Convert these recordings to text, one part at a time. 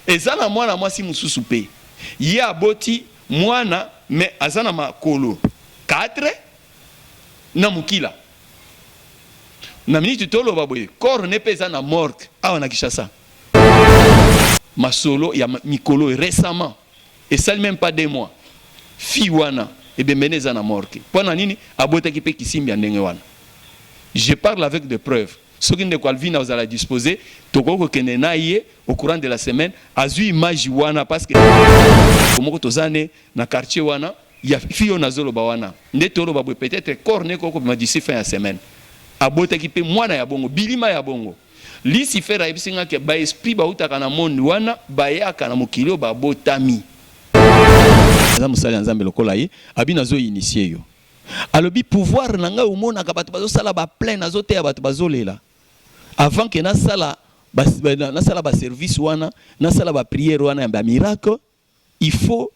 eza na mwana mwasi mosusu mpe ye aboti mwana me aza na makolo 4 na mokila na miniti toloba boye corps ne mpe eza na morgue awa na Kinshasa Masolo ya mikolo oyo récemment esali meme pas deux mois, fille wana ebembe ne eza na morte mpo na nini? Abotaki mpe kisimbi ya ndenge wana. Je parle avec des preuves. Soki ndeko Alvina ozala dispose, tokoki kokende na ye au courant de la semaine, azwi image wana parce que komoko toza ne na quartier wana ya fille oyo nazoloba wana nde toloba boye peut-être corps ne ekokobima d'ici fin ya semaine. Abotaki mpe mwana ya bongo, bilima ya bongo. Lucifer ayebisi nga ke ba esprit bawutaka na monde wana bayaka na mokili oyo babotami. Aza mosali ya nzambe lokola ye abi nazo initie yo alobi pouvoir na ngai omonaka bato bazo sala ba plein nazo teya bato bazo lela avant ke nasala nasala ba service wana nasala ba prière wana ya ba miracle il faut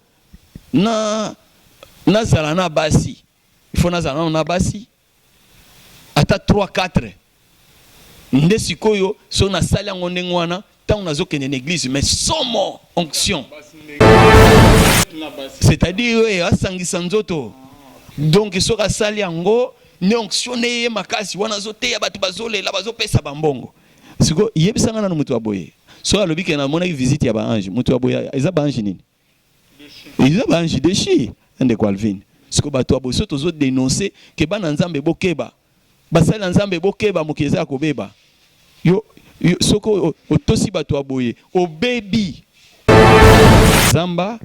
na na zala na basi il faut na zala nano na basi ata 3 4 nde sikoyo so na sali yango ndenge wana tango nazo kende na eglise mais somo onction c'est-à-dire oyo eh, asangisa nzoto donc soki asali yango ne onction ne ye makasi wana azoteya bato bazolela bazopesa bambongo siko yebisa nga nanu mutu aboye soki alobi ke namonaki visite ya ba ange mutu aboye eza ba ange nini eza ba ange deshi ndeko alvine siko bato ya boye so tozo denonse ke bana nzambe bokeba basali ya nzambe bokeba mokili eza ya kobeba yo, yo soki otosi bato ya boye obebi zamba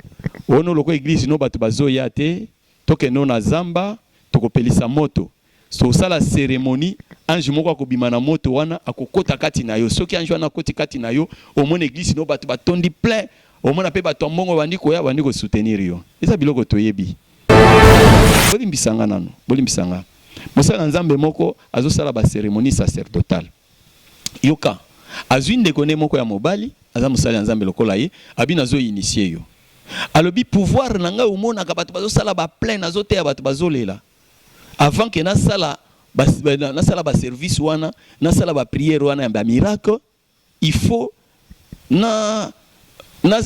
ono loko eglise no bato bazoya te tokende na zamba tokopelisa moto Soki osala ceremonie, ange moko akobima na moto wana, akokota kati na yo. Soki ange wana akoti kati na yo, omona eglise no bato batondi plein, omona pe bato ya mbongo babandi koya, babandi ko soutenir yo. Eza biloko toyebi. Bolimbisa nga nanu, bolimbisa nga. Mosali na Nzambe moko azosala ba ceremonie sacerdotale. Yoka, azwi ndeko ne moko ya mobali, aza mosali ya Nzambe lokola ye, abi nazo initier yo. Alobi pouvoir na ngai omonaka bato bazosala ba plein, nazoteya bato bazolela. avant que na sala ba na sala ba service wana na sala ba prière wana ya ba miracle il faut na na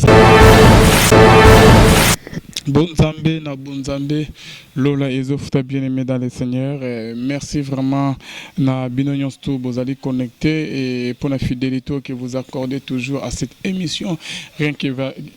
Bonzambe na Bonzambe Lola Ezofuta bien aimé dans le Seigneur. Et merci vraiment na bino nyonso bozali connecté et pour la fidélité que vous accordez toujours à cette émission rien que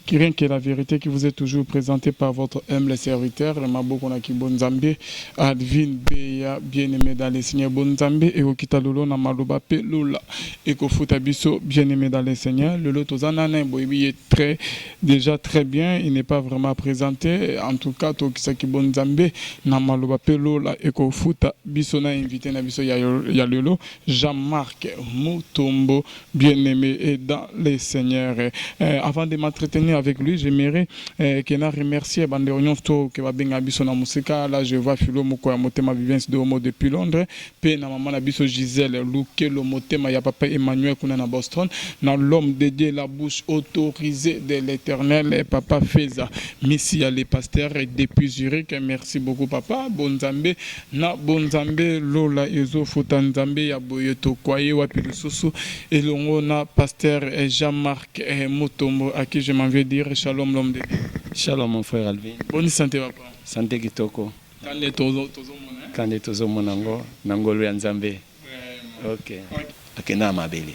Kiren que la verite qui vous est toujours presente par votre humble serviteur le maboko na kibo nzambe Advin Beya bien aime dans le Seigneur bon nzambe ekokita lolo na maloba pe lola ekofuta biso bien aime dans le Seigneur lolo toza nana boyebi ye très déjà très bien il n'est pas vraiment présenté en tout cas tokisa kibo nzambe na maloba pe lola ekofuta biso na invité na biso ya, ya lelo Jean-Marc Mutombo bien aime et dans le seigneur eh, avant de m'entretenir avec lui j'aimerais eh, que na remercier bandeko nyonso to ke babenga biso na mosika là je vois filo moko ya motema vivence de homo depuis londres pe na maman na biso gisèle lukelo motema ya papa emmanuel kuna na boston na l'homme de dieu la bouche autorisée de l'éternel eh, papa feza misi ya le pasteur depuis zurich merci beaucoup papa bonzambe Na bonzambe lola ezo futa nzambe ya boye tokuaye wapi lisusu elongo na pasteur jean marc mutombo à qui je m'en vais dire shalom l'homme de Dieu. Shalom mon frère Alvin. Boni sante papa. Sante kitoko. Kande tozo mona hein. Kande tozo mona ngo na ngolu ya nzambe. Vraiment. Ok. Akenda na mabele.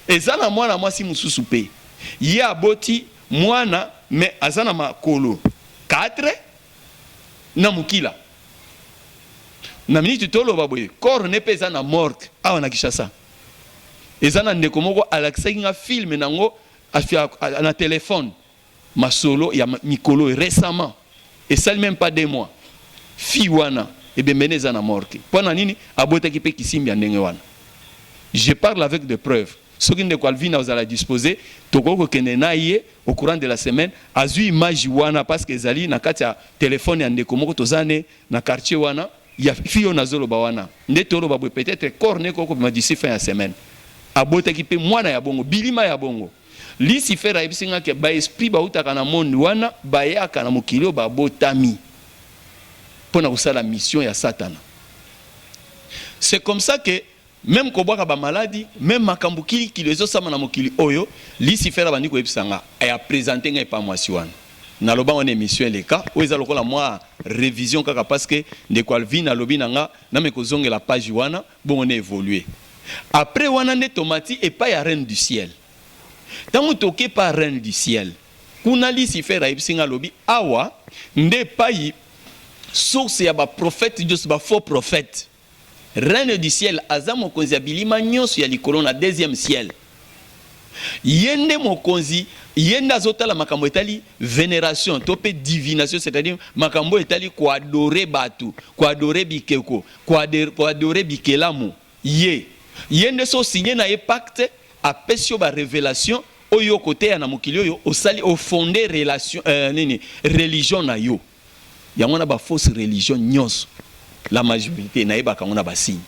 Eza na mwana mwasi mosusu pe ye aboti mwana mais aza na makolo 4. na mukila na minute toloba boye corps ne pe eza na morgue awa na Kinshasa eza na ndeko moko alakisaki nga film nango na telephone masolo ya mikolo récemment esali même pas deux mois fille wana ebembe ne eza na morgue pona nini abotaki pe kisimbi ya ndenge wana je parle avec des preuves Soki ndeko Alvina ozala dispose tokoki kokende na ye au courant de la semaine azui image wana parce que ezali na kati ya telephone ya ndeko moko toza ne na quartier wana ya fille oyo nazo loba wana nde toloba boye peut etre corps na ye ekoki kobima d'ici fin ya semaine. Abotaki pe mwana ya bongo bilima ya bongo. Lucifer ayebisi nga ke ba esprits bawutaka na monde wana bayaka na mokili oyo babotami pona kosala mission ya satana c'est comme ça que Meme kobwaka ba maladi, meme makambu kili kilo ezo salama na mokili oyo, Lucifer abandi koyebisa nga et a presenter nga epa mwasi wana. Naloba wana emission eleka, oyo eza lokola mwa revision kaka parce que ndeko Alvine alobi na nga name kozongela page wana, bongo na evoluer. Apres wana nde tomati epai ya Reine du Ciel. Tangu toke epa Reine du Ciel, kuna Lucifer ayebisi nga alobi awa nde epayi source ya ba prophètes nioso, ba faux prophètes. Reine du ciel aza mokonzi ya bilima nionso ya likolo na deuxième ciel ye nde mokonzi ye nde azo tala makambo etali veneration to pe divination c'est à dire makambo oyo etali ko adorer batu ko adorer bikeko ko adorer bikelamu ye ye nde so signe na ye pacte apesi yo ba revelation oyo okoteya na mokili oyo osali o fonde relation euh, nini religion na yo Yango wana ba fausses religions nionso, la majorite, nayebaka yango na ba signes.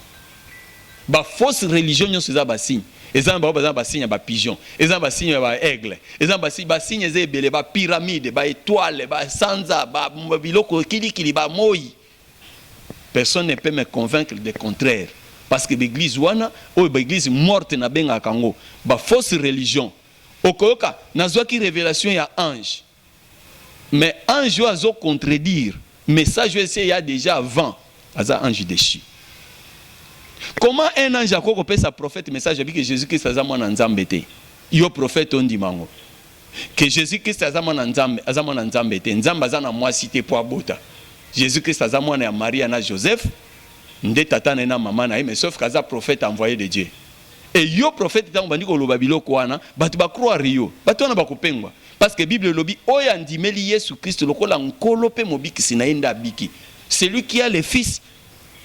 Ba fausses religions nionso eza ba signes. Eza na bango baza na ba signes ya ba pigeons, eza na ba signes ya ba aigles, eza na ba signes, ba signes eza ebele, ba pyramides, ba etoiles, ba sanza, ba biloko kili kili, ba moyi. Personne ne peut me convaincre de contraire parce que ba eglises wana, oyo ba eglises mortes nabengaka yango, ba fausses religions. Okoyoka, nazuaki revelation ya ange. Mais ange oyo azo contredire message oyo esi eya dejà avant aza ange dechu. Comment un ange akoki kopesa prophète message alobi que Jesus Christ aza mwana Nzambe te? Yo prophète ondima yango? Que Jesus Christ aza mwana Nzambe, aza mwana Nzambe te. Nzambe aza na mwasi te po abota. Jesus Christ aza mwana ya Maria na Joseph nde tata na ye na mama na ye mais sauf que aza prophète envoye de Dieu. Et yo prophète tango bandi koloba biloko wana batu ba croire yo batu wana bakopengwa parce que bible elobi oyo andimeli yesu christ lokola nkolo pe mobikisi na ye nde abiki celui qui a le fils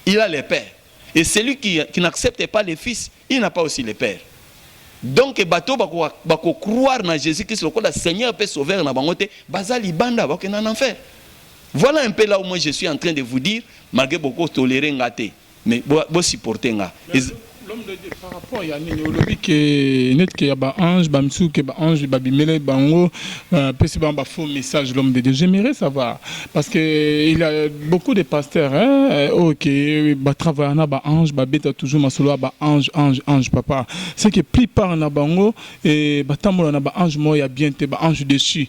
il a le père et celui qui, qui n'accepte pas le fils il n'a pas aussi le père donc bato oyo bako, bako croire na jésus christ lokola seigneur pe sauveur na bango te baza libanda bakokenda na enfer voilà un peu là où moi je suis en train de vous dire malgré boko tolere nga te Mais bo bo supporter nga. Eza... L'homme de Dieu, par rapport ya nini olobi que net que ya ba ange ba misusu que ba ange ba bimele bango euh, pesi bango ba faux message l'homme de Dieu j'aimerais savoir parce que il y a beaucoup de pasteurs hein euh, oh que ba travailler na ba ange ba beta toujours masolo ya ba ange ange ange papa c'est que plupart na bango et batambola na ba ange moya bien te ba ange dessus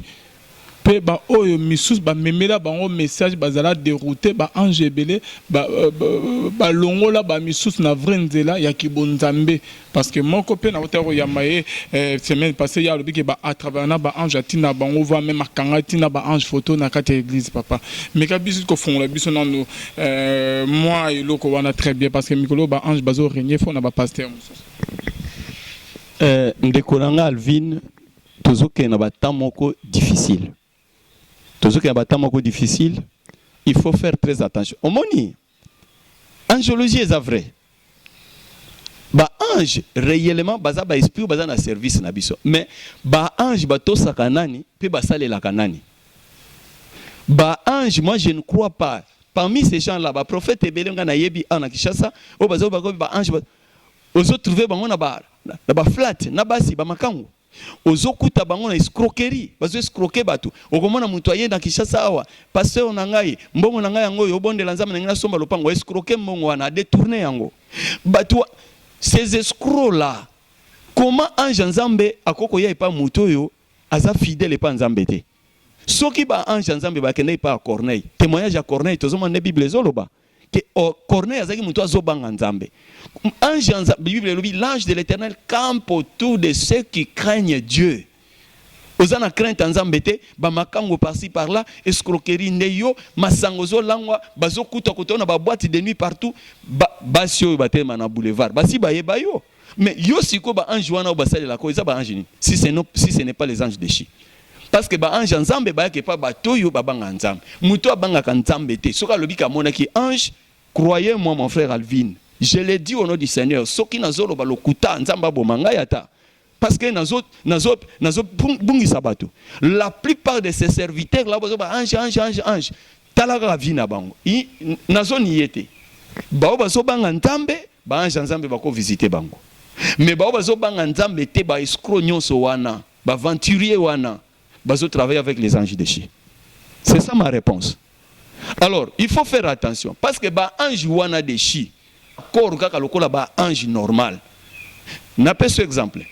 Pe ba oyo misusu ba memela bango message ba zala deroute ba ange ebele ba ba longola ba misusu na vrai nzela ya ki bo nzambe parce que moko pe na wuta ko yamba ye semaine passe ye alobi ke ba a travailler na ba ange a tinda bango voir meme a kanga ti na ba ange photo na kati ya eglise papa meka biso ko fongola biso nanu mua eloko wana très bien parce que mikolo oyo ba ange bazo regne faut na ba pasteur misusu. Ndeko na nga Alvine tozokende na ba temps moko difficile tozokende na ba temps moko difficile il faut faire très attention omoni angelologie eza vrai ba ange réellement baza ba esprit baza na service na biso mais ba ange batosaka nani mpe basalelaka nani ba ange moi je ne crois pas parmi ces gens là ba prophète ebele ngai nayebi awa na kinshasa oyo bazali bakomi ba ange ozo trouver bango na ba na ba flat na basi ba makangu ozo kuta bango na escroquerie bazo escroquer batu okomona mutu aye na Kinshasa awa pasteur na ngai mbongo na ngai yango oyo obondela nzambe na ngai na somba lopango a escroquer mbongo wana a detourner yango batu ces escrocs là comment ange ya nzambe akoki koya epa mutu oyo aza fidèle epa nzambe te soki ba ange ya nzambe bakenda epa ya Corneille temoignage ya Corneille tozomona nde bible ezoloba que oh, Corneille azaki mutu azobanga Nzambe. Ange en Bible elobi l'ange de l'Éternel campe autour de ceux qui craignent Dieu. oza na crainte ya nzambe te bamakango parci par là escroquerie nde yo masango ozolangwa bazokuta koto na babwate de nuit partout basi ba oyo batelema na boulevard basi bayeba yo Mais yo siko ba ange wana ba salela ko eza ba ange nini si c'est non si ce n'est pas les anges déchus parce que ba ange nzambe ba yake pa ba toyo ba banga nzambe muto abanga ka nzambe te soka lobi ka mona ki ange croyez moi mon frère Alvin je l'ai dit au nom du Seigneur soki na zolo ba lokuta nzambe aboma ngai ata parce que na zo na zo na zo bungi sabato la plupart de ces serviteurs là ba ange ange ange ange Tala kaka vie na bango. Nazo niye te. Bao bazo banga Nzambe, ba ange ya Nzambe bako visiter bango. Mais bao bazo banga Nzambe te, ba escrocs nyonso wana, ba aventuriers wana, bazo travailler avec les anges déchus. C'est ça ma réponse. Alors, il faut faire attention parce que ba anges wana déchus corps kaka lokola ba ange normal napesi exemple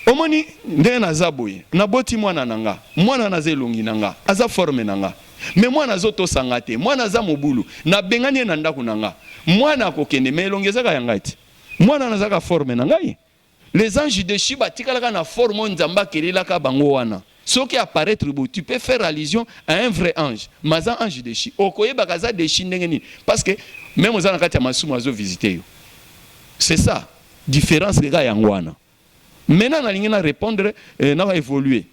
omoni ndenge naza boye naboti mwana na nga mwana naza elongi na nga aza forme na nga me mwana azotosa nga te mwana aza mobulu nabengani ye na ndako na nga mwana akokende me elongi ezaka ya ngai te mwana nazaka forme na ngai Les anges dechus ba tikala ka na forme oyo Nzambe a kelela ka bango wana. Soki a paraitre boye tu peux faire allusion à un vrai ange mais aza ange dechu. Oko yebaka aza dechu ndenge nini parce que meme oza na kati ya masumu azo visiter yo. C'est ça difference kaka yango wana. Maintenant nalingi na repondre eh, na evoluer.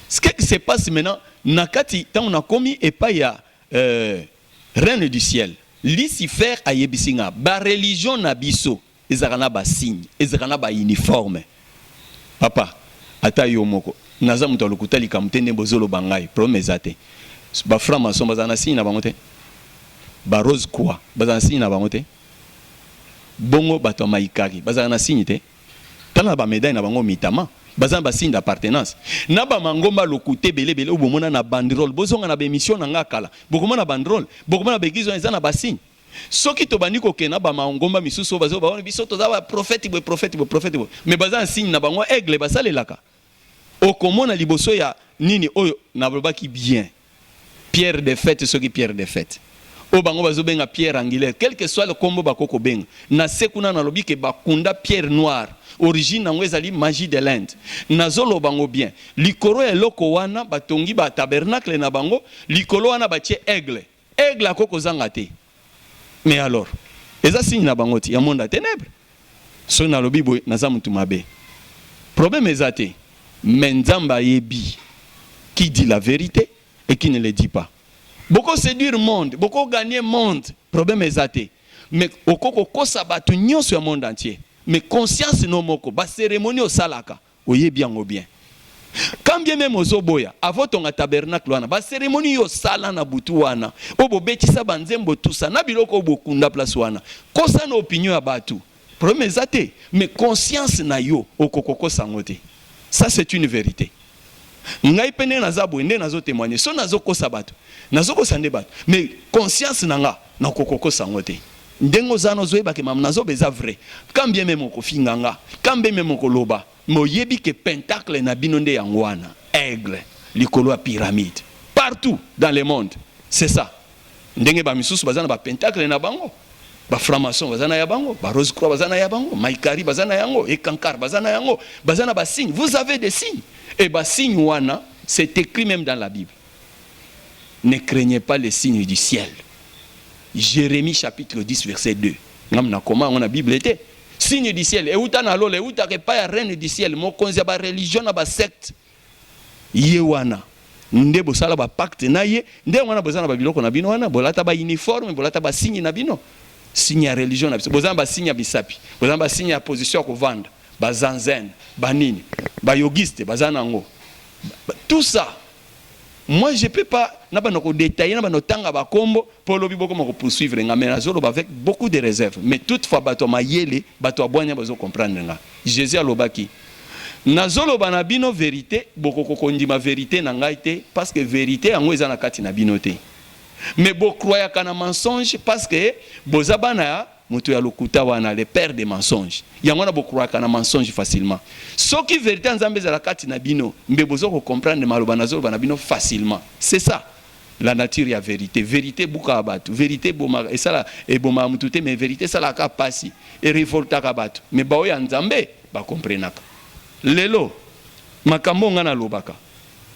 Ce qui se passe maintenant na kati tango na komi epai ya euh, reine du ciel. Lucifer ayebisi nga ba religion na biso Ezalaka na ba signe, ezalaka na ba uniforme papa ata yo moko naza moto ya lokuta likambo te nde bozo loba ngai problème eza te ba franc maçon bazala na signe na bango te ba rose croix bazala na signe na bango te bongo bato ya maikari bazala na signe te tala na ba medaille na bango mitama baza na ba signe d'appartenance na ba mangomba lokuta ebele ebele oyo bomona na banderole bozonga na ba emission na ngai kala bokomona banderole bokomona ba eglise wana eza na ba signe Soki tobandi kokende na ba mangomba misusu oyo bazo bawana biso toza ba prophète boye prophète boye prophète boye mais baza na signe na bango aigle basalelaka okomona liboso ya nini oyo nalobaki bien Pierre de fête soki Pierre de fête oyo bango bazo benga Pierre angulaire quelque soit le kombo bako kobenga na se kuna nalobi ke bakunda Pierre noir origine yango ezali magie de l'Inde nazoloba ngo bien likolo ya eloko wana batongi ba tabernacle na bango likolo wana batie aigle Aigle akoki kozanga te mais alors eza signe na bango ti ya monde ya tenèbre soki nalobi boye naza mutu mabe problème eza te mais nzambe ayebi qui dit la verite et qui ne le dit pas boko seduire monde boko gagner monde problème eza te mais oko kokosa batu nyonso ya monde entier mais conscience no moko ba cérémonie osalaka Oyebi yango bien. Quand bien meme ozo boya, avant otonga tabernacle wana, ba ceremonies yo osala na butu wana, oyo bo betisa ba nzembo tout ça, na biloko oyo bo kunda place wana, kosa na opinion ya batu, problème eza te. Mais conscience na yo, oko ko kosa yango te. Ça c'est une verite. Ngai pe ndenge naza boye, nde nazo temoigner. Soki nazo kosa batu, nazo kosa nde batu. Mais conscience na nga, nako ko kosa yango te. Ndenge oza na ozoyeba ke mam na zoba eza vrai quand bien meme okofinga nga quand bien meme okoloba mais oyebi ke pentacle na bino nde yango wana aigle likolo ya pyramide partout dans le monde c'est ça ndenge ba misusu baza na ba pentacle na bango ba franc maçon baza na ya bango ba rose croix baza na ya bango maikari baza na yango et kankar baza na yango baza na ba signe vous avez des signes et ba signe wana c'est écrit meme dans la bible ne craignez pas les signes du ciel jeremie chapitre 10 verset 2 ngam na koma yango na bible te signe du ciel euta na lola eutaka epai ya reine du ciel mokonzi ya bareligion na basecte ye wana nde bosala bapacte na ye nde yango wana boza na babiloko na bino wana bolata bauniforme bolata basigne na bino signe ya religion na biso boza na basigne ya misapi boza na basigne ya position ya kovanda bazanzene banini bayogiste baza na yango tout ça Moi je peux pas na banda ko detailler na banda kotanga ba kombo po lobi bokoma ko poursuivre nga mais nazo loba avec beaucoup de reserve mais toute fois batu ya mayele batu ya bwanya bazo comprendre nga Jesus alobaki nazo loba na bino verite bokoko kondima verite na ngai te parce que verite yango eza na kati na bino te mais bo croyaka na mensonge parce que boza bana ya Moto ya lokuta wana le père de mensonge yango wana bo croyaka na mensonge facilement soki verite ya nzambe ezala kati na bino mbe bozo ko comprendre maloba nazo loba na bino facilement c'est ça la nature ya verite verite ebukaka batu verite ebomaka esala ebomaka mutu te mais verite esalaka kaka pasi e revoltaka batu mais baoyo ya nzambe ba comprenaka lelo makambo nga na lobaka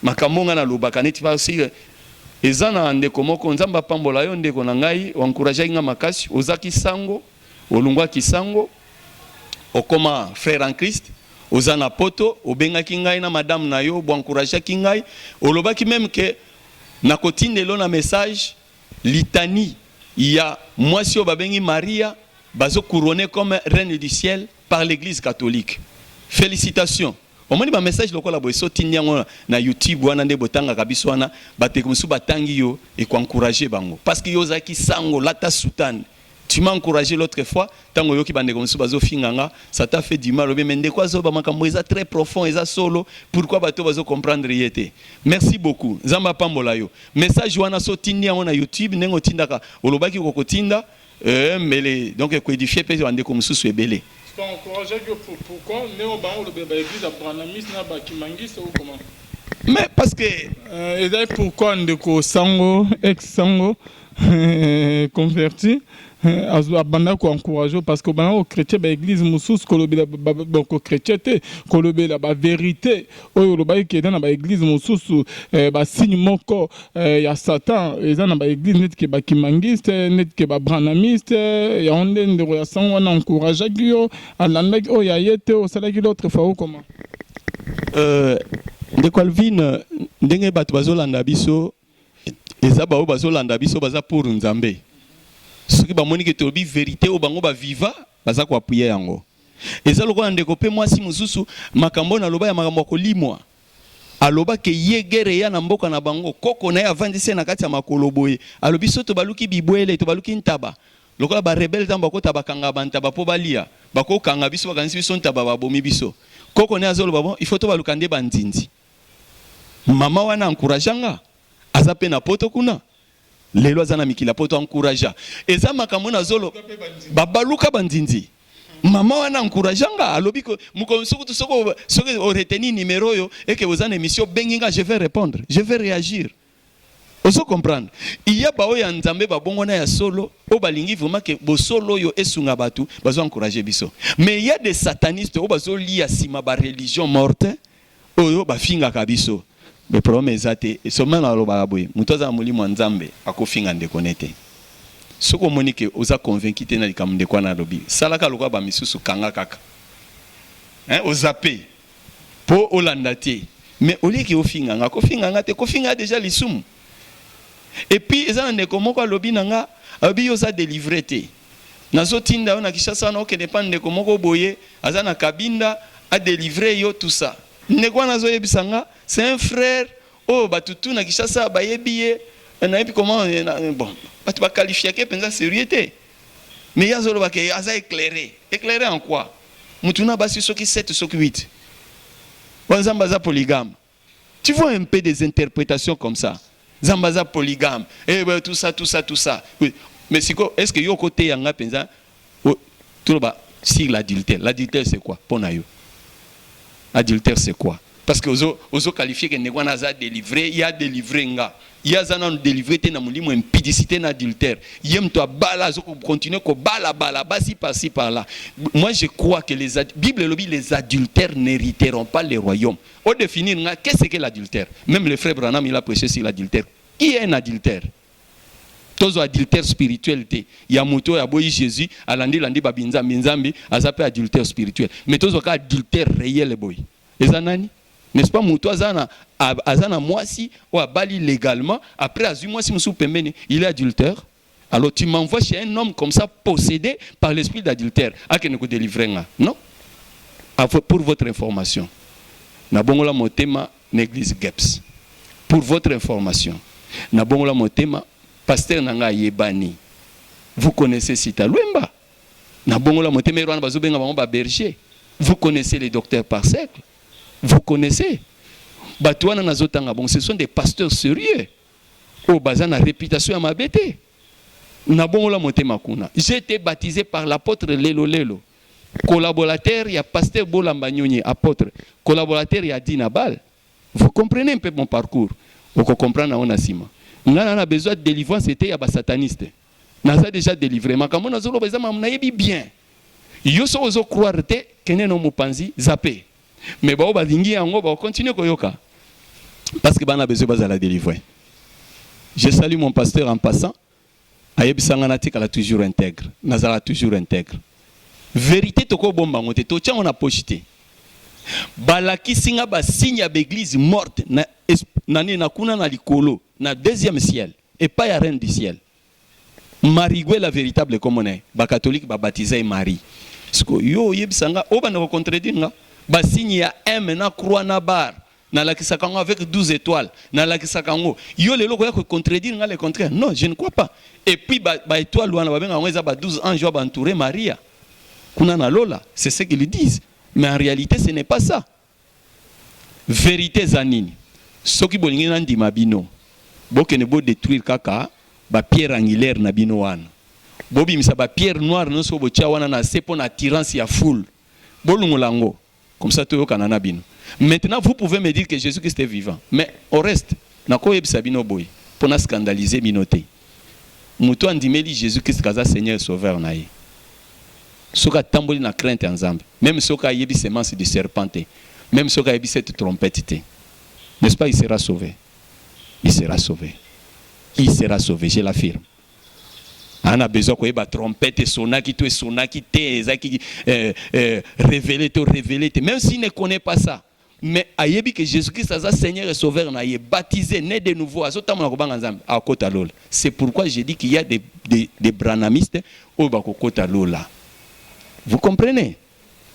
Makambo nga na lobaka neti par si eza na ndeko moko nzambe apambola yo ndeko na ngai o encouragaki nga makasi ozaki sango olunguaki sango okoma frère en christ oza na poto obengaki ngai na madame na yo bo encouragaki ngai olobaki meme que na kotindela yo na message litanie ya mwasi oyo babengi maria bazo couronne comme reine du ciel par l'eglise catholique felicitations Omoni ba message lokola boye so tindi yango na YouTube wana nde botangaka biso wana ba ndeko mosusu batangi yo et ko encourager bango parce que yo ozalaki sango lata soutane tu m'as encouragé l'autre fois tango oyoki ba ndeko mosusu bazo finga nga ça t'a fait du mal obe mais ndeko azo ba makambo eza très profond eza solo pourquoi bato bazo comprendre ye te merci beaucoup nzambe apambola yo message wana so tindi yango na YouTube ndenge otindaka olobaki okotinda Euh, mbele donc ekoedifie mpe bandeko mosusu ebele mais parce que euh, ezali pourquoi ndeko sango ex sango euh, converti euh, abanda koencourage parce que obanda kochrétien baeglise mosusu kolobela boko chrétien te kolobela baverité oyo olobaki ke eza na ba eglise mosusu eh, ba signe moko eh, ya satan eza na ba eglise neti ke ba kimangiste neti ke ba branamiste yango nde ndeko ya sango wana encourageaki yo alandaki oyo ya ye te osalaki l'autre fois okoma Euh, ndeko alvine ndenge bato bazolanda biso Eza ba oyo bazo landa biso baza pour nzambe soki ba moni ke tolobi verite oyo bango ba viva baza ko appuyer yango eza lokola ndeko pe mwasi mususu makambo oyo na loba ya makambo ya kolimwa aloba ke ye guerre eya na mboka na bango koko na ye avandisi ye na kati ya makolo boye alobi soki tobaluki bibwele tobaluki ntaba lokola ba rebelle tango bakota bakanga ba ntaba po balia bako kanga biso bakanisi biso ntaba babomi biso koko na ye azo loba bon il faut tobaluka nde ba nzinzi Maman wana encouragea nga aza pe na poto kuna lelo aza na mikili ya poto encouragea eza makambo nazolo babaluka ba nzinzi maman wana encouragea nga alobi que mokolo mosusu kutu soki soki o retenir numero oyo et que oza na emission bengi nga je vais repondre je vais reagir Ozo comprendre? Il y a baoyo ya Nzambe ba bongo na ya solo oyo balingi vraiment que bosolo oyo esunga batu bazo encourager biso. Mais il y a des satanistes oyo bazo lia sima ba religion morte oyo ba fingaka biso. Mais problème eza te, seulement na lobaka boye mutu aza na molimo ya Nzambe ako finga ndeko ne te. Soki omoni que oza convaincu te na likambo ndeko wana alobi, salaka lokola ba misusu kanga kaka. Hein, o zapper. Po olanda te mais au lieu que ofinga nga ko finga nga te ko finga ya dejà lisumu et puis eza na ndeko moko alobi na nga alobi yo oza delivre te nazo tinda yo na Kinshasa wana okende epa ndeko moko boye aza na kabinda a delivre yo tout ça ndeko wana azo yebisa nga c'est un frère oyo batu tout na Kinshasa ba yebi ye nayebi comment bon batu ba qualifiake penza serieux te. Mais ye azo loba ke aza eclaire. Eclaire en quoi? Mutu na basi soki sept soki huit. Oyo nzambe aza polygame. Tu vois un peu des interpretations comme ça. Nzambe aza polygame. Eh ben tout ça tout ça tout ça. Mais siko est-ce que yo oko teya nga penza toloba sur l'adultère. L'adultère c'est quoi pona yo? Adultère c'est quoi? Parce que ozo ozo qualifier que ndeko wana aza delivre, ye a delivre nga. Ye aza nanu delivre te na molimo ya impudicite na adultère. Ye mutu abala azo ko continuer ko bala bala basi par ci par là. Moi je crois que les ad... Bible elobi les adultères n'heriteront pas le royaume. O definir nga qu'est ce que l'adultère? Meme le frère Branham il a preche sur l'adultère. Qui est un adultère? Tozwa adultère spirituel te ya moto oyo aboyi Jesus, alandi landi ba binzambi nzambi, aza pe adultère spirituel. Mais tozwa ka adultère reel boye. Eza nani? N'est-ce pas moto aza na aza na mwasi oyo abali legalement, après azwi mwasi mosusu pembeni, il est adultère? Alors tu m'envoies chez un homme comme ça possédé par l'esprit d'adultère, akende ko delivrer nga? Non. Pour votre information. Na bongola motema na eglise geps pour votre information na bongola motema pasteur na nga ayebani vous connaissez sita lwemba na bongola motema ero wana bazo benga bango ba berger vous connaissez les docteurs par cercle vous connaissez batu wana nazo tanga bon ce sont des pasteurs sérieux oyo oh, baza na réputation ya mabe te na bongola motema kuna j'étais baptisé par l'apôtre lelo lelo collaborateur ya pasteur bolamba nyonyi apotre collaborateur ya adi nabal vous comprenez un peu mon parcours oko comprendre yango na sima nga na na besoin delivrance ete ya ba sataniste naza deja delivre makambo nazoloba eza makambo nayebi bien yo soki ozo croire te kende na mopanzi zape mais baoyo balingi yango bakocontinue koyoka parce que bana besoin bazala delivre je salue mon pasteur en passant Ayebisa nga natikala toujours integre. Nazalaka toujours integre. Verite toko bomba ngo te, totia ngo na poche te. Balakisi nga ba signe ya ba eglise morte na na nini na kuna na likolo na deuxième ciel epai ya reine du ciel. Mariguela veritable kombo na ye. Ba catholique ba batiza ye Marie. Siko yo oyebisa nga obanda ko contredire nga. Ba signe ya M na croix na bar Na lakisaka yango avec 12 etoiles, na lakisaka yango. Yo lelo okoya ko contredire nga le contraire? Non, je ne crois pas. Et puis ba, ba etoiles wana ba benga yango eza ba 12 anges oyo ba entourer Maria. Kuna na lola, c'est ce qu'ils disent. Mais en réalité, ce n'est pas ça. Verite eza nini? Soki bolingi na ndima bino, bokende bo detruire kaka ba pierre angulaire na bino wana bobimisa ba pierre noire nyonso botia wana na se mpo na attirance ya foule bolungola yango comme ça toyokana na bino maintenant vous pouvez me dire que Jésus Christ est vivant mais au reste nakoyebisa bino boye mpo na scandalise bino te moto andimeli Jésus Christ kaza Seigneur sauveur na ye soki atamboli na crainte ya Nzambe même soki ayebi semence du serpent te même soki ayebi cette trompette te n'est-ce pas il sera sauvé il sera sauvé il sera sauvé je l'affirme Aza na besoin koyeba trompette esonaki to esonaki te, ezaki euh, euh, révélé to révélé te, même s'il ne connaît pas ça mais ayebi que Jésus-Christ aza Seigneur et Sauveur na ye, baptisé, né de nouveau, azotambola kobanga Nzambe, akota lola. C'est pourquoi j'ai dit qu'il y a des, des, des branamistes oyo bakokota lola. Vous comprenez?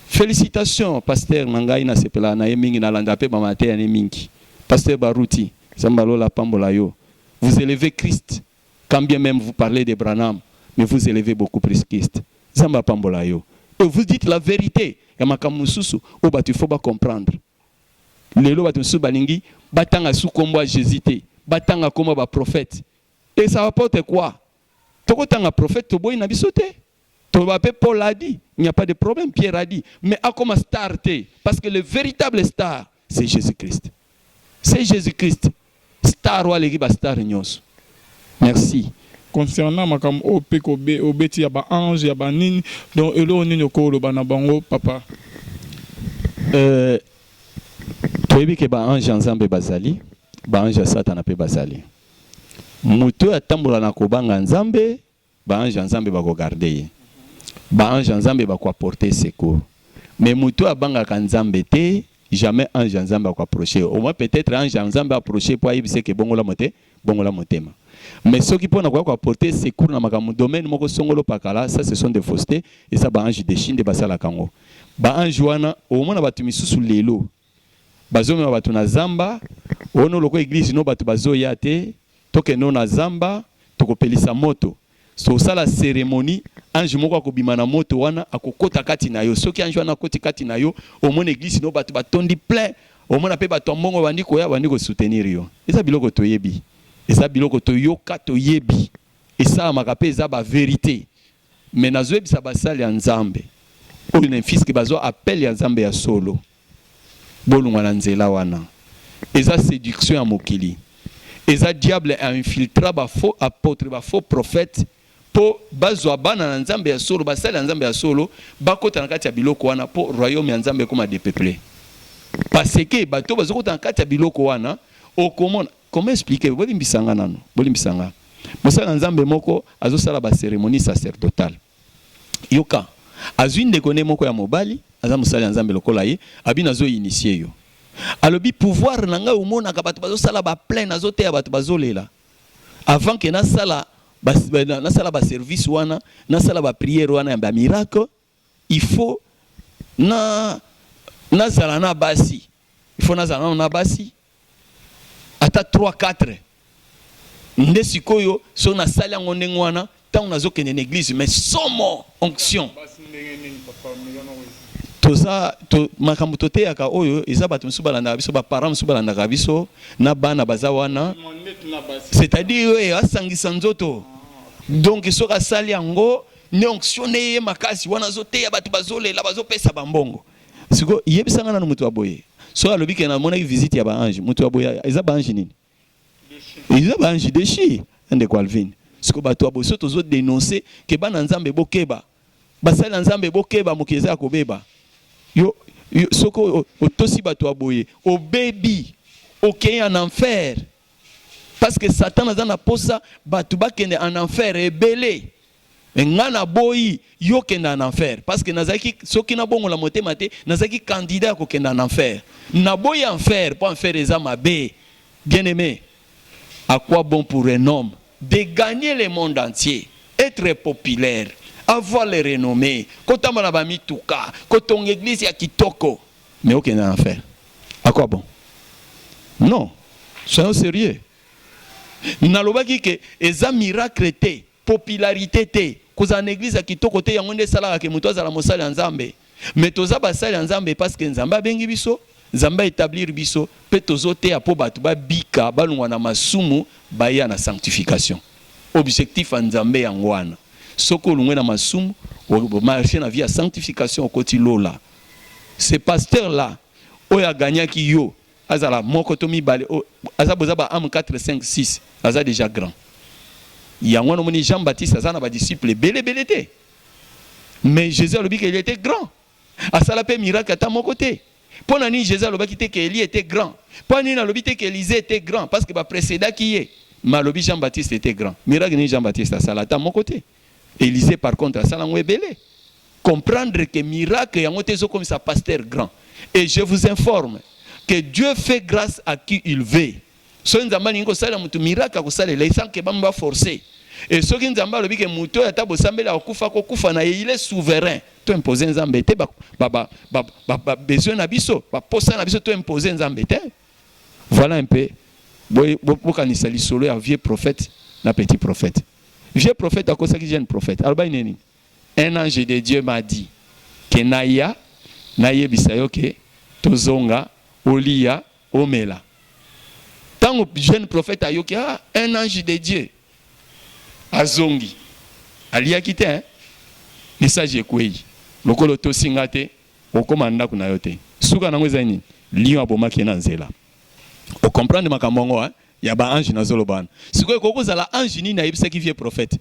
Félicitations pasteur na ngai nasepela na ye mingi nalanda mpe bamateya ne mingi. Pasteur Baruti, Zamba lola pambola yo. Vous élevez Christ quand bien meme vous parlez de Branham mais vous elevez beaucoup plus Christ Nzambe apambola yo et vous dites la verite ya makambo mosusu oyo batu il faut ba comprendre lelo batu mosusu balingi batanga su kombo ya Jesus te batanga kombo ya ba prophète et ça apporte quoi toko tanga prophète toboyi na biso te toloba pe Paul a dit il n'y a pas de problème Pierre a dit mais akoma star te parce que le veritable star c'est Jesus Christ c'est Jesus Christ star oyo aleki ba star nyonso merci concernant makambo oyo mpe obeti ya baange ya banini donc eloko nini okoloba na bango papa euh, toyebi ke baange ya nzambe bazali baange ya satana mpe bazali moto oyo atambola na kobanga nzambe Ba anges ya Nzambe bako garder ye. Ba anges ya Nzambe bako apporter ye secours. Mais mutu oyo abangaka Nzambe te, jamais ange ya Nzambe ako approcher ye. Au moins peut etre ange ya Nzambe a approcher ye po ayebisa ye que bongola mote, bongola motema. Mais soki pona koya ko apporter ye secours na makambo domaine moko songolo pakala, ça ce sont des faussete, eza ba anges dechus nde basalaka yango. Ba anges wana, omona batu misusu lelo, Bazomema bato na zamba ono lokola eglise no bato bazoya te tokende no na zamba tokopelisa moto tosala ceremonie ange moko akobima na moto wana akokota kati na yo soki ange wana akoti kati na yo omona eglise no bato batondi plein omona pe bato ya mbongo bandi koya bandi ko soutenir yo eza biloko toyebi eza biloko toyoka toyebi esalamaka pe eza ba verite Mais nazo yebisa ba sali ya nzambe oyo ne fils que bazua appel ya nzambe ya solo bolungwa na nzela wana eza seduction ya mokili eza diable a infiltra ba faux apotre ba faux prophète po bazua bana na nzambe ya solo ba sali ya nzambe ya solo bakota na kati ya biloko wana po royaume ya nzambe ekoma depeple paseke bato bazokota na kati ya biloko wana okomona Comment expliquer bolimbisa nga nanu bolimbisa nga mosali na nzambe moko azosala ba ceremonie sacerdotal yoka azwi ndeko ne moko ya mobali aza mosali ya nzambe lokola ye abi nazo initie yo alobi pouvoir na ngai omonaka bato bazosala ba plein azoteya bato bazolela avant ke nasala nasala ba service wana nasala ba priere wana ya ba miracle il faut na na zala na basi il faut na zala nano na basi ata 3 4 nde sikoyo so na sali yango ndenge wana tango nazo kende na eglise mais somo onction toza to, makambo toteyaka oyo eza bato mosusu balandaka biso baparent mosusu balandaka biso na bana baza wana c'est-à-dire oyo asangisa nzoto donc soki asali yango ne onction ne ye makasi wana azoteya bato bazolela bazopesa bambongo siko yebisa nga nanu moto ya boye soki alobi ke namonaki visite ya baange moto ya boye eza baange nini eza baange deshi ndeko alvine siko bato ya boye so tozo denonse ke bana nzambe bokeba basali ya nzambe bokeba mokili eza ya kobeba yo, yo soki otosi bato ya boye obebi okei en enfer parce que satan aza na posa bato bakende en enfer ebele me ngai naboyi yo kenda en enfer parce que nazalaki soki nabongola motema te nazalaki candidat ya kokenda en enfer naboyi enfer mpo enfer eza mabe bien aimé à quoi bon pour un homme de gagner le monde entier être populaire avoir le renommé kotamba na bamituka kotonga eglise ya kitoko Mais ok n'a enfer. À quoi bon? Non. Soyons sérieux. Nalobaki que eza miracle te, popularité te, kozala na église ya kitoko te yango nde esalaka que moto azala mosali ya Nzambe. Mais toza basali ya Nzambe parce que Nzambe abengi biso, Nzambe a etablir biso pe tozo teya po bato ba bika, balongwa na masumu, baya na sanctification. Objectif ya Nzambe yango wana. Soki olongwe na masumu, o marcher na vie ya sanctification, okoti lola. Ce pasteur là oyo a gagnaki yo azala moko to mibale oyo aza boza ba ame 4 5 6 aza dejà grand yango wana omoni Jean Baptiste aza na ba disciples ebele ebele te mais Jésus alobi que il était grand asala pe miracle ata moko te mpo na nini Jésus alobaki te que Elie était grand mpo na nini alobi te que Élisée était grand parce que ba précédaki ye mais alobi Jean Baptiste était grand miracle nini Jean Baptiste asala ata moko te Elysee par contre asala ngo ebele comprendre que miracle yango te ezo komisa pasteur grand et je vous informe que Dieu fait grâce à qui il veut soki nzambe alingi kosalela moto miracle akosalela sans que bambo baforce e soki nzambe alobi ke moto oyo ata bosambeli akokufa akokufa na ye il est souverain to impose nzambe te babesoin na biso baposa na biso to impose nzambe te voilà un peu bokanisa lisolo ya vieux prophète na petit prophète Vieux prophète akosaki jeune prophète. Alobaki nini? Un ange de Dieu m'a dit que naya nayebisa yo que tozonga oliya omela. Tango jeune prophète ayoki ah un ange de Dieu azongi aliyaki te hein? message ekweyi lokola otosi nga te okoma ndako na yo te suka nango eza nini lion abomaki ye na nzela okomprendre makambo yango hein? ya ba ange nazoloba wana sikoyo ekoki kozala ange nini ayebisaki vieux prophète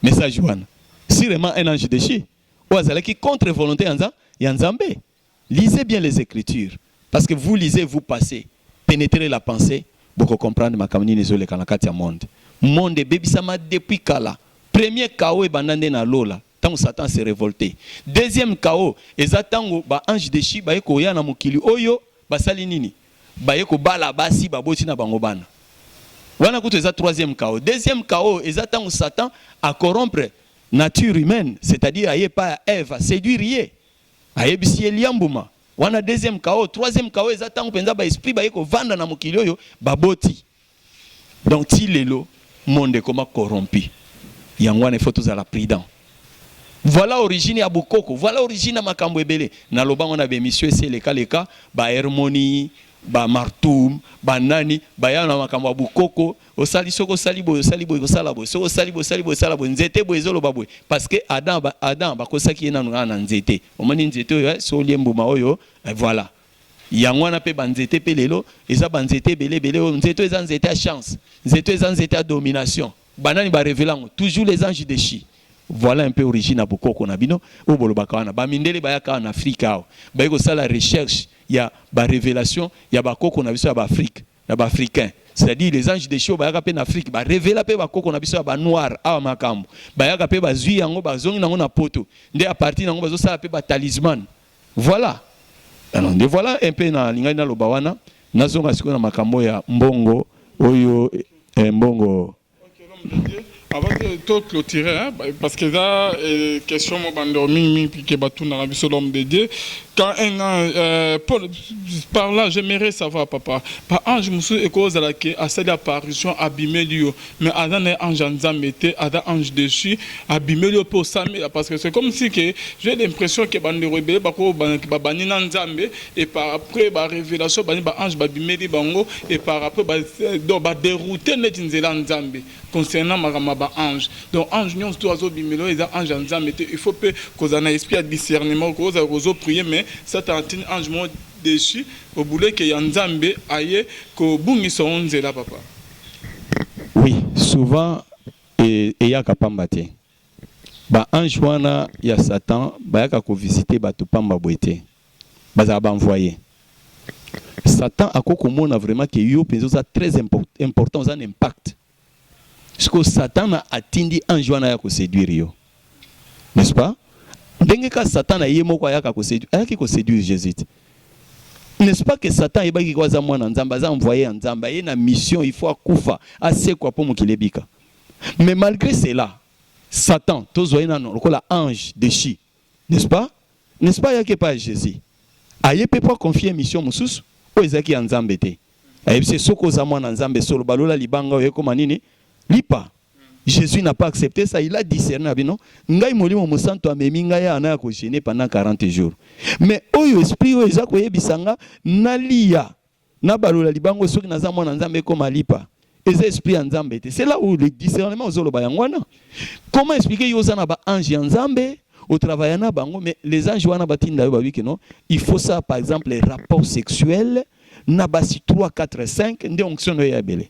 message wana sûrement un ange déchu oyo azalaki contre volonté ya nza ya nzambe lisez bien les écritures parce que vous lisez vous passez pénétrez la pensée boko comprendre makambo nini ezoleka na kati ya monde monde ebebisamaki depuis kala premier chaos ebanda nde na lola Tango Satan a se revolter. Deuxième chaos eza tango ba anges dechus baye koya na mokili oyo, basali nini? Baye kobala basi, baboti na bango bana. Wana kutu eza troisième chaos. Deuxième chaos eza tango Satan a corrompre nature humaine, c'est-à-dire aye epai ya Eve, a seduire ye, ayebisi ye lia mbuma. Wana deuxième chaos. Troisième chaos eza tango penza ba esprits baye kovanda na mokili oyo, baboti. Donc ti lelo monde ekoma corrompu yango wana il faut tozala prudent. Voilà origine ya bokoko, voilà origine ya makambo ebele. Naloba yango na ba emission esi eleka leka, ba Hermoni, ba Martum, ba nani baya na makambo ya bokoko, osali soki osali boye osali boye ekosala boye, soki osali boye osali boye ekosala boye, nzete boye ezoloba boye parce que Adam Adam bakosaki ye nanu kaka na nzete, omoni nzete oyo eh, soki olie mbuma oyo eh, voilà. Yango wana mpe ba nzete mpe lelo eza ba nzete ebele ebele oyo nzete oyo eza nzete ya chance nzete oyo eza nzete ya domination ba nani ba revela yango toujours les anges dechus Voilà un peu origine ya bokoko na bino oyo bolobaka wana ba mindele bayaka awa na Afrique awa baye kosala recherche ya ba revelation ya ba koko na biso ya ba Afrique na ba Africains c'est à dire les anges dechus oyo bayaka mpe na Afrique ba revela mpe ba koko na biso ya ba noir awa makambo bayaka mpe bazui yango bazongi na yango na poto nde à partir na yango bazosala mpe ba talismane Voilà! Alors nde voilà un peu na lingaki na loba wana. Na zonga sikoyo na makambo ya mbongo oyo eh, mbongo. Okay, l'homme de Dieu. Avant que to clôturer, hein, ba- parce que eza eh, question mo bandeko mingi mingi puis que batuna na biso l'homme de Dieu. Quand un an, euh, Paul, par là, j'aimerais savoir, papa, ba ange mosusu ekozala ke asali apparition abimeli yo mais aza na ye ange ya nzambe te aza ange deçu abimeli yo mpe osambela parce que c'est comme si que j'ai l'impression que bandeko ebele bakoyo banaki babandi na nzambe et par après ba révélation bani ba ange babimeli bango et par après ba, donc ba dérouter neti nzela ya nzambe concernant makambo ya ba ange donc ange nyonso to azobimela oyo eza ange ya nzambe te il faut mpe kozala na esprit ya discernement kozala kozo prier mais satan atini ange moko deçu obuleke ya nzambe aye kobungisa yo nzela papa Oui, souvent eyaka pamba te. Ba anges wana ya Satan bayaka ko visiter bato pamba boye te. Bazala ba envoyer. Satan ako komona vraiment que yo penza oza très important, oza un impact. Siko Satan atindi ange wana ya ko séduire yo. N'est-ce pas? Ndenge kaka Satana ye moko ayaka ko seduire, ayaki ko seduire Jesus te. N'est-ce pas que Satan ayebaki ke oyo aza mwana ya Nzambe, aza envoye ya Nzambe, aye na mission, il faut akufa, asekwa po mokili ebika. Mais malgre cela, Satan, tozwa ye nanu lokola ange dechu, n'est-ce pas? N'est-ce pas ayaki epai ya Jesus, aye pe po a confier ye mission mosusu oyo ezalaki ya Nzambe te. Ayebisi ye, soki oza mwana ya Nzambe solo, balola libanga oyo ekoma nini? Lipa. Jesus n'a pas accepte ça, il a discerné abi non, ngai molimo mosantu amemi ngai awa naya ko jeûner pendant 40 jours. Mais oyo esprit oyo eza koyebisa nga naliya nabalola libango soki naza mwana Nzambe ekoma lipa. Eza esprit ya Nzambe te. C'est là où le discernement ozoloba yango wana. Comment expliquer yo oza na ba ange ya Nzambe otravaille na bango mais les anges wana batinda yo babi que non il faut ça par exemple rapport sexuel na basi 3 4 5 nde onction oyo ya ebele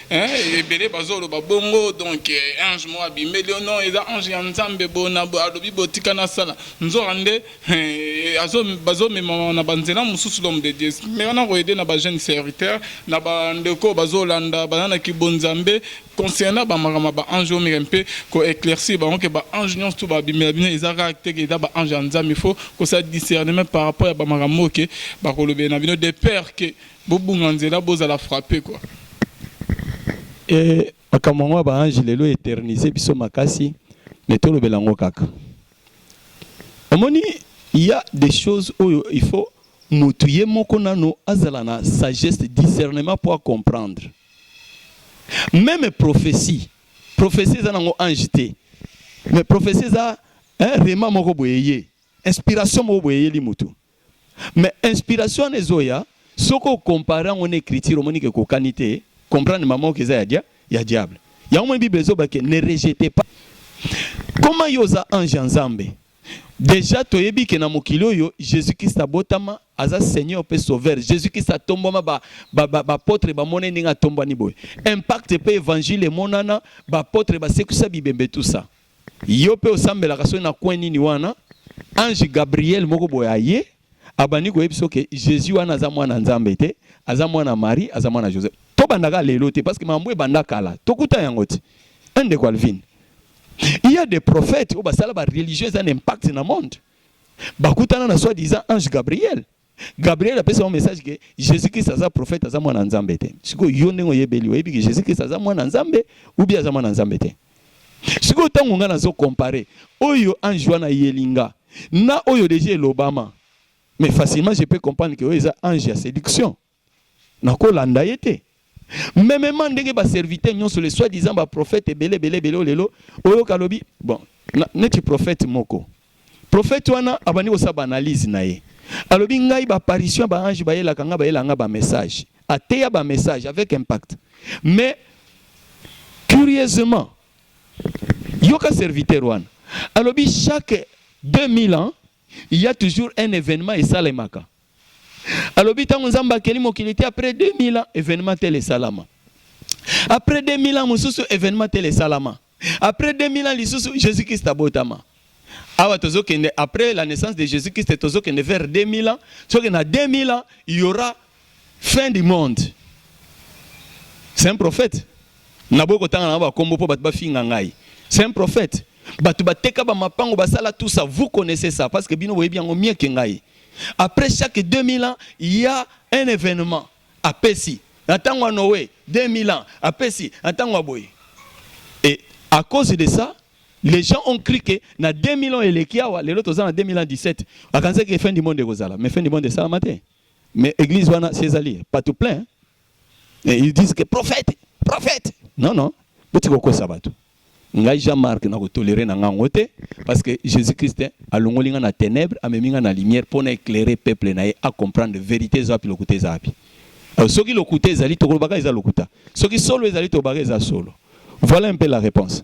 Hein ebele bazo loba bongo donc ange moko abimeli yo non eza ange ya nzambe boye na boye alobi boye tika na sala nzoka nde azo bazo memama na ba nzela mususu l'homme de Dieu meka na ko aider na ba jeunes serviteurs na ba ndeko oyo bazo landa baza na ki bo nzambe concernant ba makambo ya ba ange omeka mpe ko eclaircir bango ke ba ange nionso tout ba bimela bino eza kaka te ke eza ba ange ya nzambe il faut ko sa discernement par rapport ya ba makambo oyo ke bako lobela na bino de peur ke Bobunga nzela bozala frappe quoi. Eeh makambo yango ya ba ange lelo eternise biso makasi mais tolobela yango kaka. Omoni il ya des choses oyo il faut mutu ye moko nanu azala na sagesse discernement po a comprendre. Meme prophetie, prophetie eza nango ange te mais prophetie eza rhema moko boye eye inspiration moko boye eyeli mutu. Mais inspiration wana ezoya soki o comparer yango na ecriture omoni ke ekokani te, comprendre mama ok eza ya dia ya diable. Yango omoni bible ezoba ke ne rejetez pas. Comment yo oza ange ya Nzambe? Dejà toyebi ke na mokili oyo Jesus Christ abotama, aza seigneur pe sauveur. Jesus Christ atombwama ba ba ba apotre bamonai ndenge atombwani boye. Impact pe evangile emonana, ba apotre basekwisa bibembe tout ça. Yo pe osambelaka soki na coin nini wana ange Gabriel moko boye aye abandi koyebisa yo ke Jesus wana aza mwana ya Nzambe te, aza mwana ya Marie, aza mwana ya Joseph. Tobanda kaka lelo te parce que makambo ebanda kala. Tokuta yango ti. Hein ndeko Alvin? Il y a des prophètes oyo basala ba religions eza na impact na monde. Bakutana na soi-disant ange Gabriel. Gabriel apesa yo message que Jesus Christ aza prophète aza mwana nzambe te. Siko yo ndenge oyebeli oyebi que Jesus Christ aza mwana nzambe ou bien aza mwana nzambe te. Siko tango nga nazo comparer oyo ange wana yelinga na oyo déjà elobama. Mais facilement je peux comprendre que oyo eza ange ya séduction. Nakolanda ye te. Memement ndenge ba serviteurs nyonso les soit disant ba prophètes ebele ebele ebele lelo oyoka alobi bon neti prophète moko prophète wana abandi kosala ba analyse na ye alobi ngai ba apparition ya ba ange bayelaka ngai bayelaka ngai ba message ateya ba message avec impact mais curieusement yoka serviteur wana alobi chaque 2000 ans Il y a toujours un evenement esalemaka. Alobi tango Nzambe akeli mokili te après 2000 ans evenement tel esalama. Après 2000 ans mosusu evenement tel esalama. Après 2000 ans lisusu Jésus Christ abotama. Awa tozo kende après la naissance de Jésus Christ tozo kende vers 2000 ans. Soki na 2000 ans il y aura Fin du monde. C'est un prophète. Naboyi kotanga na ba kombo po bato bafinga ngai. C'est un prophète. Bato bateka ba mapango basala tout ça. Vous connaissez ça parce que bino boyebi yango mieux que ngai. Après chaque 2000 ans, il y a un événement. Apesi. Na tango ya Noé, 2000 ans. Apesi. Na tango ya boye. Et à cause de ça, les gens ont cru que na 2000 ans eleki awa, lelo toza na 2017. Akanisa que fin du monde ekozala. Mais fin du monde esalama te. Mais église wana si ezali batu plein et ils disent que prophète, prophète. Non non, boti kokosa batu. Ngai Jean-Marc na ko tolérer na ngango te parce que Jésus-Christ alongoli nga na ténèbres amemi nga na lumière pour na éclairer peuple na ye a comprendre vérité eza wapi lokuta eza wapi. Euh, soki lokuta ezali tokolobaka eza lokuta. Soki solo ezali tobaka eza solo. Voilà un peu la réponse.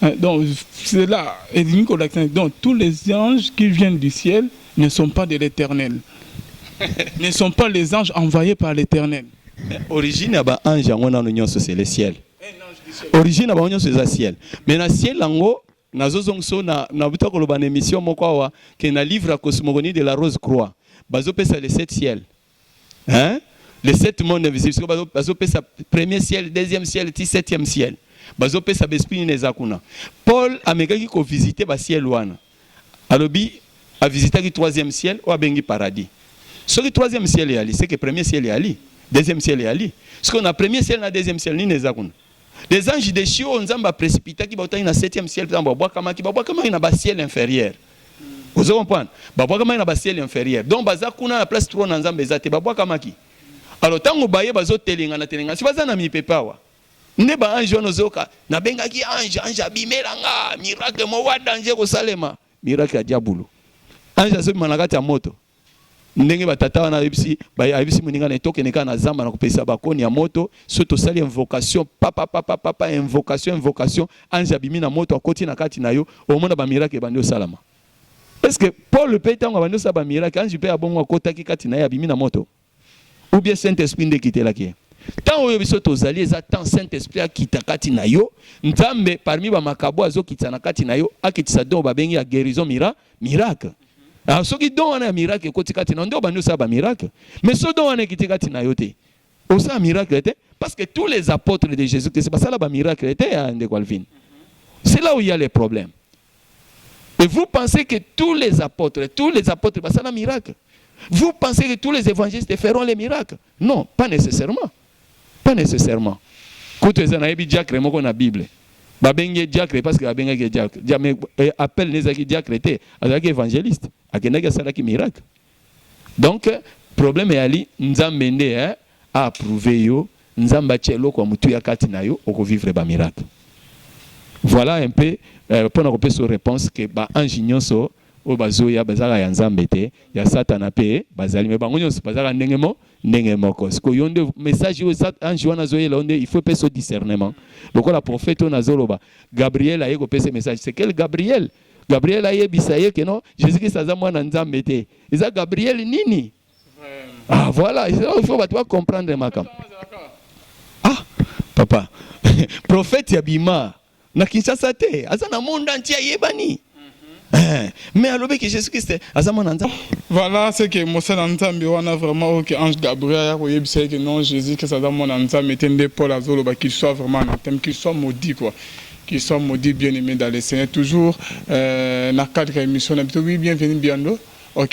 Eh, donc cela elingi kolakisa nini? donc tous les anges qui viennent du ciel ne sont pas de l'éternel ne sont pas les anges envoyés par l'éternel Mais origine ya ba ange yango nano nyonso c'est le ciel origine ya bango nyonso eza ciel mais na ciel yango nazozongisa oyo na- nabuta koloba na émission moko awa ke na livre ya cosmogonie de la rose croix bazopesa le sept ciel hein les sept monde invisible siko bazo bazo pesa premier ciel deuxième ciel ti septième ciel bazo pesa ba esprit nini eza kuna Paul amekaki ko visiter ba ciel wana alobi a visitaki troisième ciel oyo abengi paradis soki troisième ciel eyali c'est que premier ciel eyali deuxième ciel eyali siko na premier ciel na deuxième ciel nini eza kuna Les anges des cieux oyo Nzambe aprecipitanki bautaki na septième ciel ntango babwakamaki, babwakamaki na basiele inferieur. Ozo comprendre? Babwakamaki na basiele inferieur. Donc baza kuna na place trône na Nzambe eza te, babwakamaki. Alors ntango baye bazotelengana telengana, si baza na mipepe awa, nde ba ange wana ozoyoka nabengaki ange ange abimela nga miracle moko ya danger kosalema miracle ya diabulu ange azobima na kati ya moto ndenge ba tata wana ayebisi ba ayebisi moninga na to kende kaka na zamba na kopesa ba koni ya moto so to sali invocation papa papa papa invocation invocation ange abimi na moto akoti na kati na yo omona ba miracle bandi osalama est ce que Paul pe tango abandi osala ba miracle ange pe abongo akotaki kati na ye abimi na moto Ou bien Saint Esprit nde ekitelaki ye? Temps oyo biso tozali eza temps Saint Esprit akita kati na yo. Nzambe parmi ba makabo azokitisa na kati na yo, akitisa don babengi ya guérison mira, miracle. Alors ah, soki don wana ya miracle ekoti kati na yo nde obandi osala ba miracle. Mais so don wana ekiti kati na yo te, osala miracle te parce que tous les apôtres de Jésus-Christ basala ba miracle te ya ndeko Alvin. C'est là où il y a les problèmes. Et vous pensez que tous les apôtres, tous les apôtres basala miracle? Vous pensez que tous les évangélistes feront les miracles? Non, pas nécessairement. Pas nécessairement. Kutu eza na yebi diacre moko na Bible. Ba bengi diacre parce que ba bengi diacre. Jamais eh, appel n'ezaki diacre te, azalaki évangéliste. Akendaki asalaki miracle. Donc problème eyali nzambe nde eh, a approuver yo, nzambe atia eloko ya motuya kati na yo, oko vivre ba miracle. Voilà un peu euh, pona kopesa yo réponse que ba ange nyonso oyo bazoya bazalaka ya nzambe te, ya satana mpe bazali, mais bango nyonso bazalaka ndenge mo ndenge moko. Siko yo nde message oyo ange wana azoyela yo nde il faut pesa discernement, lokola prophète oyo nazoloba Gabriel aye kopesa message, c'est quel Gabriel? Gabriel ayebisa ye que non Jesus Christ aza mwana Nzambe te. Eza Gabriel nini? Ah voilà, il faut bato ba comprendre makambo. Ah papa, prophète ya bima na Kinshasa te, aza na monde entier ayebani. Eh, mais alobi que Jésus Christ aza mwana Nzambe. Voilà ce que mosala Nzambe wana vraiment oyo que ange Gabriel ya koyebisa ye que non Jésus Christ aza mwana Nzambe te nde Paul azoloba qu'il soit vraiment anathème, qu'il soit maudit quoi. Qu'ils soient maudits bien aime dans le seigneur toujours na cadre ya emission na biso oui bien venu Biando ok.